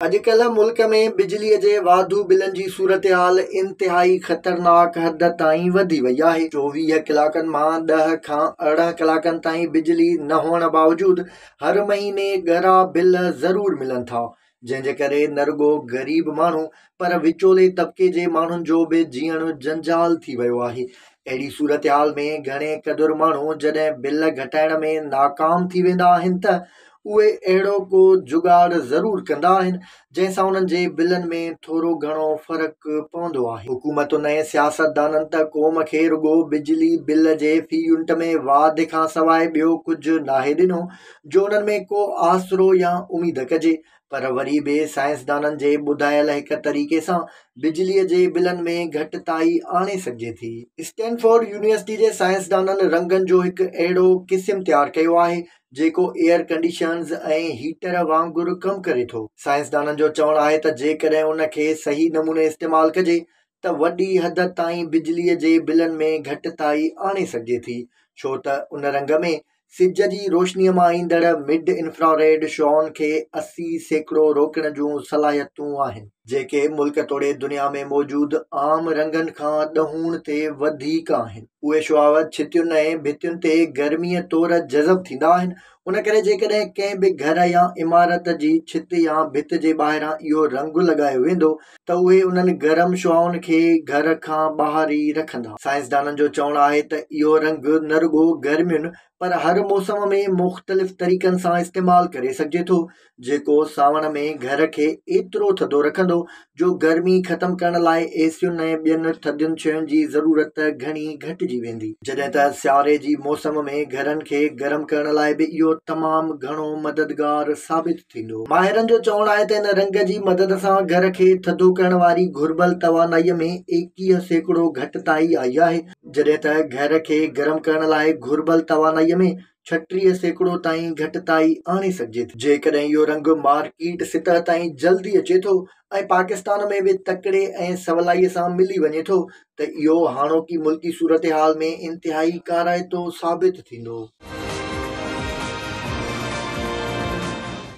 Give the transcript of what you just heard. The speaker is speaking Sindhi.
اڄڪلهه ملڪ ۾ بجلي جي واڌو بلن جي صورتحال انتهائي خطرناڪ حد تائين وڌي وئي آهي، چوويهه ڪلاڪن مان ڏهه کان ارڙهن ڪلاڪن تائين بجلي نه هئڻ باوجود هر مهيني ڳرا بل ضرور ملن ٿا، جنهن جي ڪري نه رڳو غريب ماڻهو پر وچولي طبقي جي ماڻهن جو به جيئڻ جنجال ٿي ويو آهي، اهڙي صورتحال ۾ گهڻي قدر ماڻهو جڏهن بل گهٽائڻ ۾ ناڪام ٿي ويندا آهن ته اهي اهڙو ڪو جگاڙ ضرور ڪندا آهن، جنهن سان انهن جي بلن ۾ ٿورو گهڻو فرق پوندو آهي. حڪومتن ۽ سياستدانن ته قوم کي رڳو بجلي بل جي في يونٽ ۾ واڌ کان سواء ٻيو ڪجهه ناهي ڏنو، جو انهن ۾ ڪو آسرو يا اميد ڪجي. پر وري به سائنسدانن جي ٻڌايل هڪ طريقي سان بجليء جي بلن ۾ گهٽتائي آڻي سگهجي ٿي. اسٽينفورڊ يونيورسٽي جي سائنسدانن رنگن جو هڪ اهڙو قسم تيار ڪيو آهي، جيڪو ايئر ڪنڊيشنز ۽ هيٽر وانگر ڪم ڪري ٿو. سائنسدانن جو چوڻ آهي ته جيڪڏهن ان کي صحيح نموني استعمال ڪجي ته وڏي حد تائين بجلي جي بلن ۾ گهٽتائي آڻي سگهجي ٿي، ڇو ته ان رنگ ۾ سج جي روشني مان ايندڙ مڊ انفراريڊ شعائن کي اسي سيڪڙو روڪڻ جون صلاحيتون آهن. جيڪي ملڪ توڙي دنيا ۾ موجود عام رنگن کان ڏهوڻ تي وڌيڪ آهن اهي شعاع ڇتين ۽ ڀتين تي گرميء طور جذب ٿيندا آهن ان ڪري جيڪڏهن ڪنهن به گهر يا عمارت جي ڇت يا ڀت جي ٻاهران اهو رنگ لڳايو ويندو ته اهي انهن گرم شعاعن کي گهر کان ٻاهر ئي رکندا سائنسدانن جو چوڻ آهي ته اهو رنگ نه رڳو گرمين پر هر موسم ۾ مختلف طريقن سان استعمال ڪري سگهجي ٿو جيڪو سانوڻ ۾ گهر کي ايترو ٿڌو رکندو جو گرمي ختم ڪرڻ لاء اي سين ۽ ٻين ٿڌين شين جي ضرورت گهڻي گهٽجي ويندي جڏهن ته سياري جي موسم ۾ گهرن کي گرم ڪرڻ لاء به اهو تمام گهڻو مددگار ثابت ٿيندو. ماهرن جو چوڻ آهي ته ان رنگ جي مدد سان گهر کي ٿڌو ڪرڻ واري گهربل توانائي ۾ ايڪيهه سيڪڙو گهٽتائي آئي آهي جڏهن ته گهر کي گرم ڪرڻ لاء گهربل توانائي ۾ ڇٽيهه سيڪڙو تائين گهٽتائي آڻي سگهجي ٿي، جيڪڏهن اهو رنگ مارڪيٽ سطح تائين جلدي اچي ٿو ۽ پاڪستان ۾ به تڪڙي ۽ سولائي سان ملي وڃي ٿو ته اهو هاڻوڪي ملڪي صورتحال ۾ انتهائي ڪارائتو ثابت ٿيندو.